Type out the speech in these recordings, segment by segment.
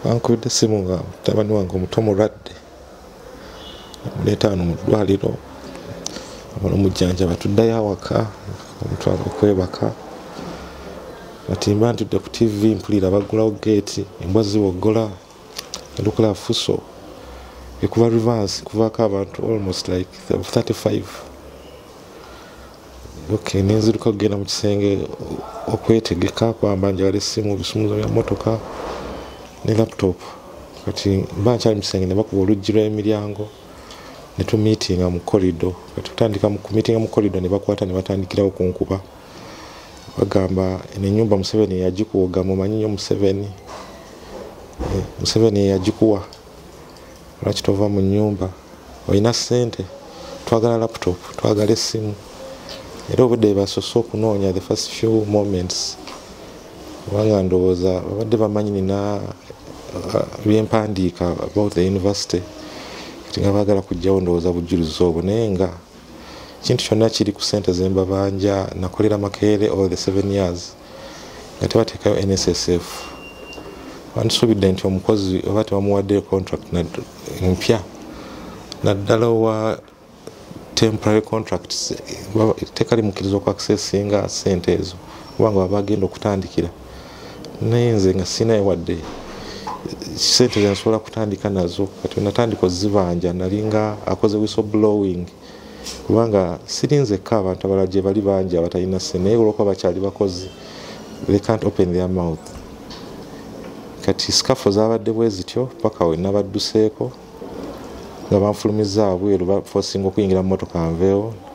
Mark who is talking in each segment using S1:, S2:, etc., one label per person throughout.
S1: bankubidde essimu nga mutabani wange omuto mulwadde amuleeta wano mu ddwaliro amala omujjanjaba tuddayo awaka omutwala okwebaka kati mba ntudde ku tivi mpulira baggulawo geeti embwa ziwoggola lukula fuso ekuba revanse kuvako abantu almost like 35 okay nenziruka kugenda mu kisenge okwetegeka kwamba njagala essimu bisumuzo bya motoka ne laptop kati mba nkyali musenge nebakuba oluggi lwemiryango netumitinga mu korido kati tutandika kumitinga mu korido nebakwata nebatandikirawo kunkuba bagamba eno enyumba museveni eyagikuwoga mumanyi nyo museveni eh, museveni eyagikuwa lwaki tova mu nyumba olina sente twagala laptop twagala essimu era obudde basose okunoonya the first few moments kubanga ndowooza babadde bamanyi nina uh, byempandiika about the university kati nga bagala kujjawo ndowooza bujjulizi obwo naye nga ekintu kyonna kiri ku sente zembabanja nakolera makeere all the seven years nga tebateekayo nssf bandisuubidde nti omukozi oba tebamuwaddeyo contract mpya naddala owa temporary contracts tekalimukiriza okuaccessinga sente ezo kubanga waba agenda okutandikira naye nze nga sinaye wadde sente zenasobola kutandika nazo kati natandika ozibanja nalinga akoze wiso blowing kubanga sirinzekka abantu abala gye bali bangi abatalina se naye olwokuba bakyali bakozi they can't open their mouth kati sikafu zabadde bwe zityo paka we nabadduseeko nga banfulumiza abweru bafosinga okuyingira mumotoka nveewo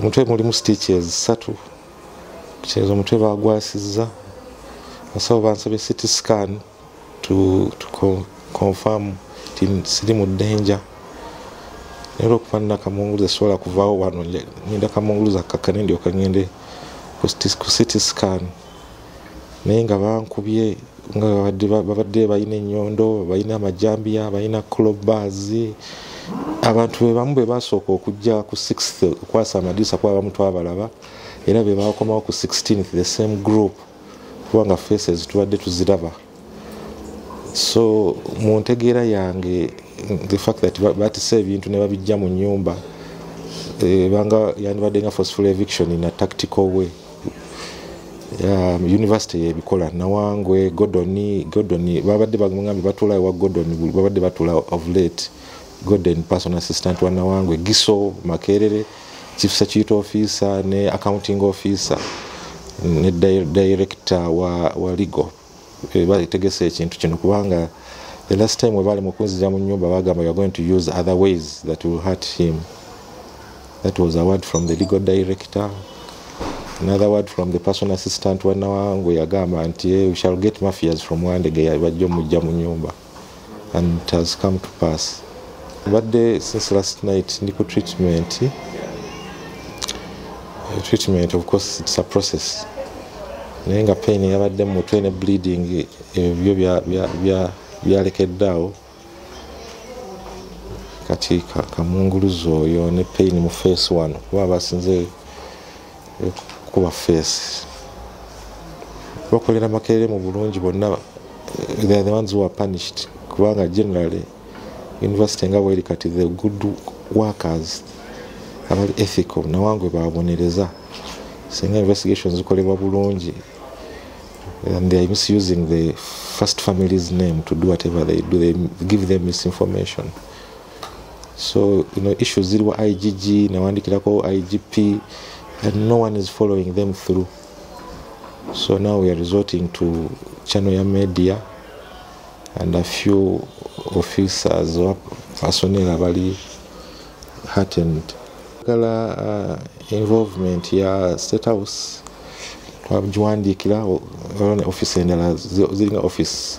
S1: omutwe mulimu stitches satu kitegeeza omutwe bagwasizza asawo bansabye city scan to, to confirm ti siri mu danger naye olwokuba nina kamunguluza sisobola kuvaawo wano ngenda kamunguluza kakkane ndyoka ngende ku city scan naye nga bankubye nga babadde balina ennyondo balina amajambiya balina clobas abantu bebamu be basooka okujja ku 6th okwasa amadiisa kuba abamu twabalaba era be bakomawo ku 16th the same group kubanga faces tubadde tuziraba so mu ntegeera yange the fact that batisa ebintu ne babijja mu nyumba ebanga eh, yandibadde nga forceful eviction in a tactical way um, university yebikola nawangwe godon godon babadde bagambe batula ewa godon babadde batula of late godon person assistant wa nawangwe giso makerere chief security officer ne accounting officer ne director wa, wa legal eh, bategese ekintu kino kubanga the last time webaali mukunzija mu nyumba bagamba youare going to use other ways that will hurt him that was a word from the legal director another word from the person assistant wanawangu yagamba nti eh, we shall get mafias from wandege bajja omujja mu nyumba and it has come to pass mbadde since last night ndi ku treatment eh, treatment of course it's a process naye nga pain yabadde mu mutwe ne bleeding ebyo byalekeddaawo kati kamunguluzi oyo ne pain mu face wano kuba basinze kuba face bakolera makerere mu bulungi bonna they are the ones who are punished kubanga generally university nga bweri kati the good workers abali ethical nawangwe babonereza singa investigation zikolebwa bulungi and they are misusing the first family's name to do whatever they do they give them misinformation so you know issues ziri wa igg newandikirako igp and no one is following them through so now we are resorting to channel ya media and a few officers asonera bali heartened kala uh, involvement ya state house twagiwandiikira office endala ziringa office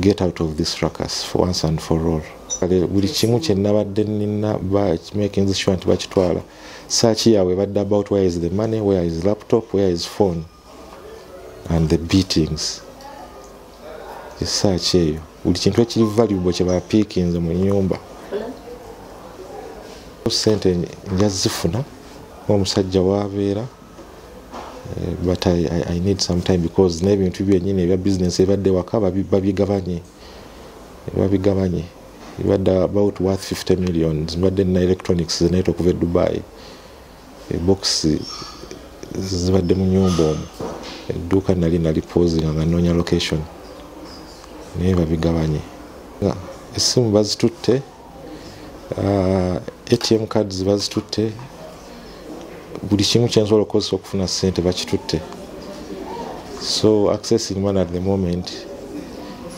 S1: get out of this ruckus for once and for all kale buli kimu kye nabadde nina making this sure nti bakitwala saaki yaabwe badde about where is the money where is laptop where is phone and the beatings esaaki eyo buli kintu ekiri valuable kye bapiikinze mu nyumba sente nja zifuna omusajja waabeera eh, but I, I, I need some time because n'ebintu byenyini ebya business ebadde waka babigabanye babigabanye ebadde about worth 50 millions mbadde nina electronics zenaita okuva e dubai ebokisi eh, zibadde mu nyumba omu edduuka nali nali pozinga nga noonya location naye babigabanye esimu bazitutte uh, atm cards bazitutte buli kimu kyensobola okukozesa okufuna sente bakitutte so accessing man at the moment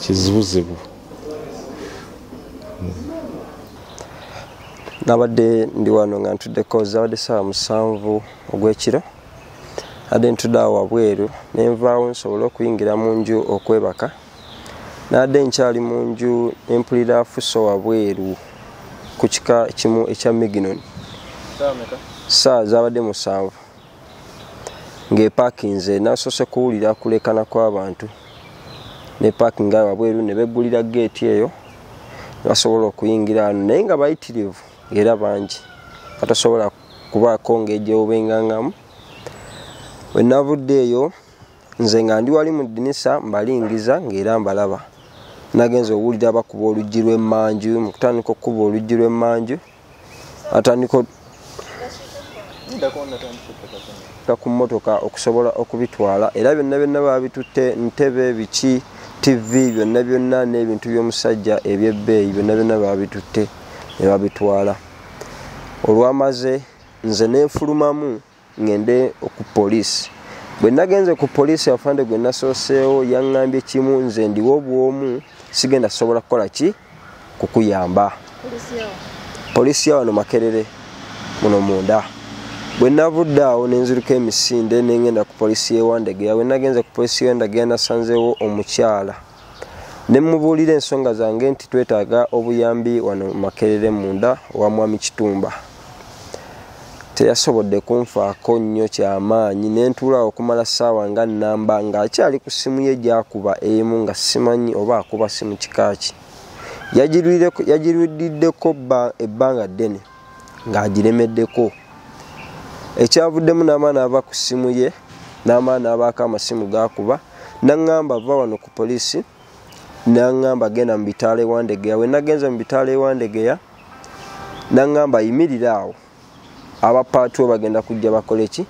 S1: kizibuzibu
S2: nabadde ndi wano nga ntudde kozi abadde saawa musanvu ogwekiro adde ntudde awo wabweru nenvaawo nsobole okuyingira mu nju okwebaka naadde nkyali mu nju ne mpulira afuso wabweru ku kika kimu ekya miginon saa zaabadde musanvu ng'epakinze nasoose kuwulira kulekana kw'abantu ne pakinga wabweru ne beggulira geeti eyo basobola okuyingira ano naye nga bayitirivu era bangi batasobola kubaako ng'egyewubengangamu wenavudde eyo nze nga ndi wali mu ddinisa mbalingiza ng'era mbalaba nagenza owulira bakuba oluggi lw'emmanju mu kutandika okukuba oluggi lw'emmanju atandika ku mmotoka okusobola okubitwala era byonna byonna babitutte ntebe biki tivi byonna byonna n'ebintu by'omusajja eby'ebbeeyi byonna byonna babitutte ne babitwala olwamaze nze nenfulumamu ŋŋende ku poliisi bwe nagenze ku poliisi afande gwe nasooseewo yaŋŋambye kimu nze ndiwo obwomu sigenda sobola kukola ki kukuyamba poliisi ya wano makerere muno munda bwe navudde awo ne nziruka emisinde ne ŋŋenda ku poliisi y'ewandegeya bwe nagenze ku poliisi y'ewandegeya nasanzeewo omukyala ne mubuulira ensonga zange nti twetaaga obuyambi wano makerere munda owa mwami kitumba teyasobodde kunfaako nnyo kyamaanyi ne ntuula okumala ssaawa nga nnamba ng'akyali ku ssimu ye gyakuba emu nga simanyi oba akuba simu kikaaki yagirwiddeko ebbanga ddene ng'agiremeddeko ekyavuddemu n'amaana ava ku ssimu ye n'amaana abaako amasimu gaakuba naŋŋamba va wano ku poliisi naŋŋamba genda mu bitaala ewandegeya we nagenze mu bitaala ewandegeya naŋŋamba yimirira awo abapaatuwo bagenda kujja bakole ki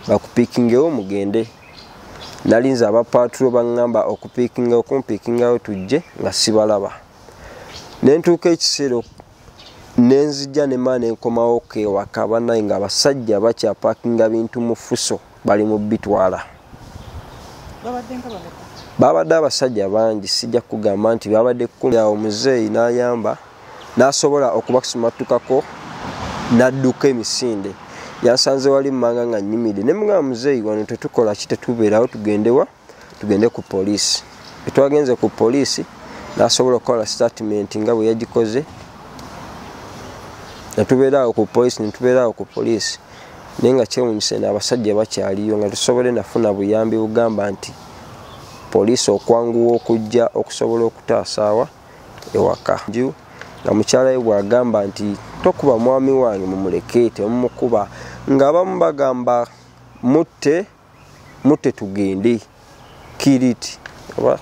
S2: bakupiikingewo mugende nalinze abapaatuwo baŋŋamba okupiikinga okumpiikingawo tujje nga sibalaba nentuuka ekiseera nenzija nemaa nenkomawo kewaka banaye nga abasajja bakyapakinga bintu mufuso bali mubitwala babadde abasajja bangi sijja kugamba nti babadde kumi awo muzeeyi nayamba nasobola okubasumatukako nadduka emisinde yasanze wali manga nga nyimide nemugamba muzeeyi wano tetukola ki tetubeerawo tugendewa tugende ku poliisi etwagenze ku poliisi nasobola okukola statement nga bwe yagikoze netubeeraawo ku poliisi netubeeraawo ku poliisi naye nga kyewunyise naabasajja bakyaliyo nga tusobole nafuna buyambi bugamba nti poliisi okwanguwa okujja okusobola okutaasaawa ewaka nju nga mukyala we bwagamba nti tokuba mwami wange mumuleke temumukuba ngaabamu bagamba mutte mutte tugende kiriti oba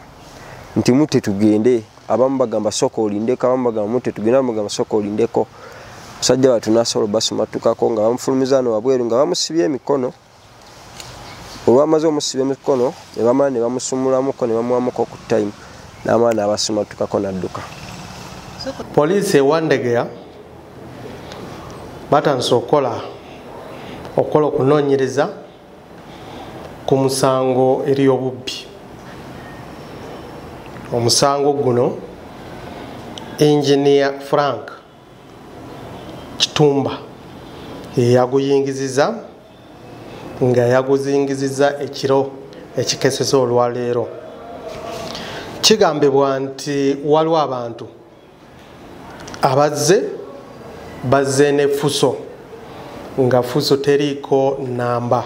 S2: nti mutte tugende abamu bagamba soka olindeko abamu bagamba mutte tugende abamu bagamba soka olindeko musajja watu nasobola obasumattukako nga bamufulumiza no wabweru nga bamusibye emikono olwamaze omusiba emikono ne bamala ne bamusumulamuko ne bamuwamuko ku time n'amala n'abasumattukako n'adduka
S3: poliisi ewandegeya batandise okukola okukola okunoonyereza ku musango eri obubbi omusango guno engineer frank kitumba yeyaguyingiziza nga yaguzingiziza ekiro ekikeseza olwaleero kigambibwa nti waliwo abantu abazze bazze ne fuso nga fuso teriiko namba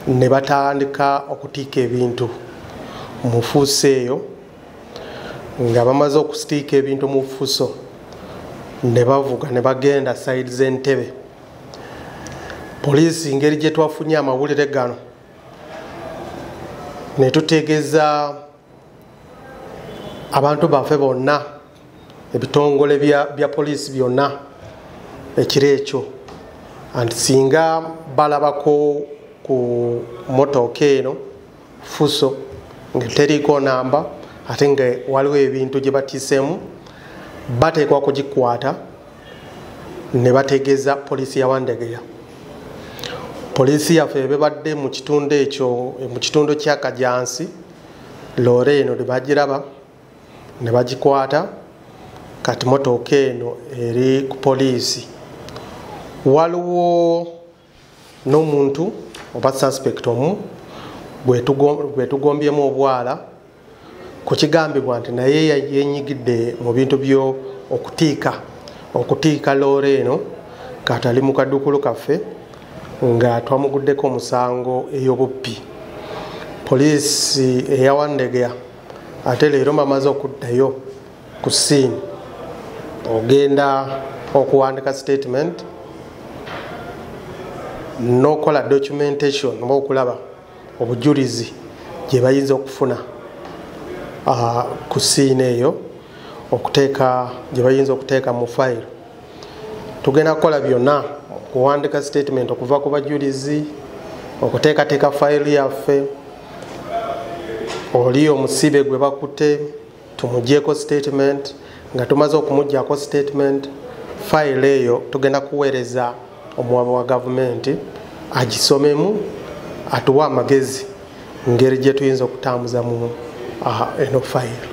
S3: ne batandika okutiika ebintu mu fuso eyo nga bamaze okusitiika ebintu mu fuso ne bavuga ne bagenda saidi z'entebe poliisi ngeri gye twafunye amawulire gano ne tutegeeza abantu baffe bonna ebitongole bya poliisi byonna ekiro ekyo and singa balabako ku motooka eno fuso nga teriiko namba ate nga waliwo ebintu gye batiisemu bateekwa kugikwata ne bategeeza poliisi ya wandegeya poliisi yaffe ebebadde mu kitundu ekyo mu kitundu kya kajansi loore eno tebagiraba ne bagikwata kati motooka eno eri ku poliisi waliwo n'omuntu oba suspect omu gwetugombyemu obwala kukigambibwa nti naye yenyigidde mu bintu byo okutiika okutiika loore eno katali mu kadukulu kaffe nga twamuguddeko omusango ey'obubbi poliisi eyawandegea ate leero mbamaze okuddayo ku siini ogenda okuwandika statement n'okukola documentation oba okulaba obujulizi gye bayinza okufuna ah, ku siina eyo okuteeka gye bayinza okuteeka mu fayiro tugenda kukola byonna okuwandika statement okuva ku bajulizi okuteekateeka fayiro yaffe oli omusibe gwe bakute tumugyeko statement nga tumaze okumugyako statement fayiro eyo tugenda kuweereza omuwaba wa gavumenti agisomemu atuwa amagezi ngeri gyetuyinza okutambuza mu eno fayiro